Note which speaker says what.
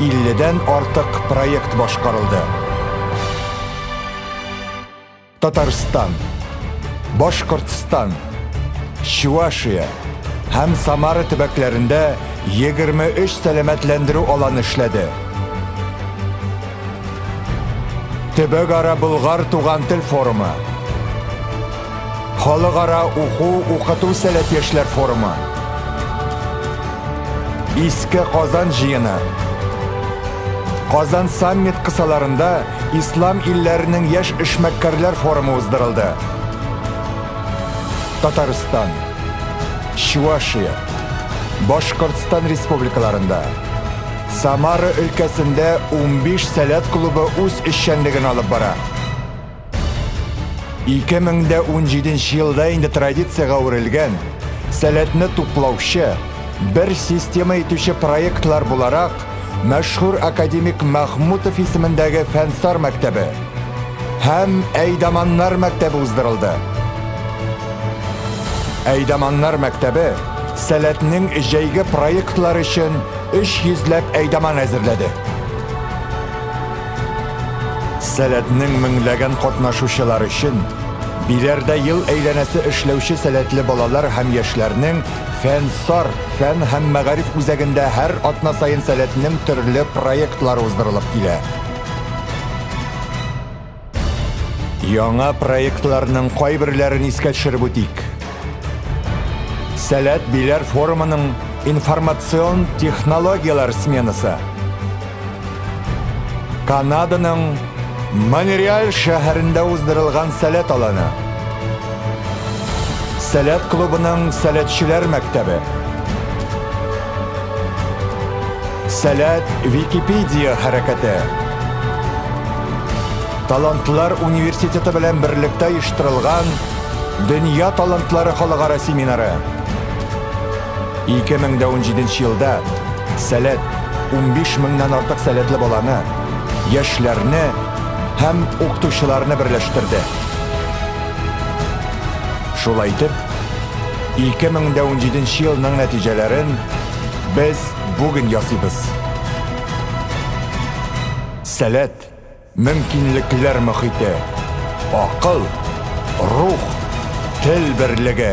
Speaker 1: 50 дән артык проект башкарылды. Татарстан, Башкортстан, Чувашия һәм Самара төбәкләрендә 23 сәламәтләндерү аланы эшләде. Төбәкара Болгар туган тел форумы Халыкара уку-укыту сәләт яшьләр форумы. Иске Казан җыены. Казан саммит кысаларында Ислам илләренең яшь эшмәккәрләр форумы уздырылды. Татарстан, Чувашия, Башкортстан республикаларында, Самара өлкәсендә 15 сәләт клубы үз эшчәнлеген алып бара. 2017 елда инде традициягә әверелгән сәләтне туплаучы, бер система итүче проектлар буларак мәшһүр академик Мәхмүтов исемендәге фәнсар мәктәбе һәм Әйдаманнар мәктәбе уздырылды. Әйдаманнар мәктәбе сәләтнең җәйге проектлар өчен 300 ләп әйдаман әзерләде. Сәләтнең меңләгән катнашучылар өчен Биләрдә ел әйләнәсе эшләүче сәләтле балалар һәм яшьләрнең Фәнсар фән һәм мәгариф үзәгендә һәр атна саен сәләтнең төрле проектлары уздырылып килә. Яңа проектларның кайберләрен искә төшереп үтик. Сәләт Биләр форумының информацион технологияләр сменасы. Канаданың Монреаль шәһәрендә уздырылган сәләт аланы. Сәләт клубының сәләтчеләр мәктәбе. Сәләт Википедия хәрәкәте. Талантлар университеты белән берлектә оештырылган Дөнья талантлары халыкара семинары. 2017 елда Сәләт 15 меңнән артык сәләтле баланы, яшьләрне һәм укытучыларны берләштерде. Шулай итеп, 2017 елның нәтиҗәләрен без бүген ясыйбыз. Сәләт! Мөмкинлекләр мохите, акыл, рух, тел берлеге.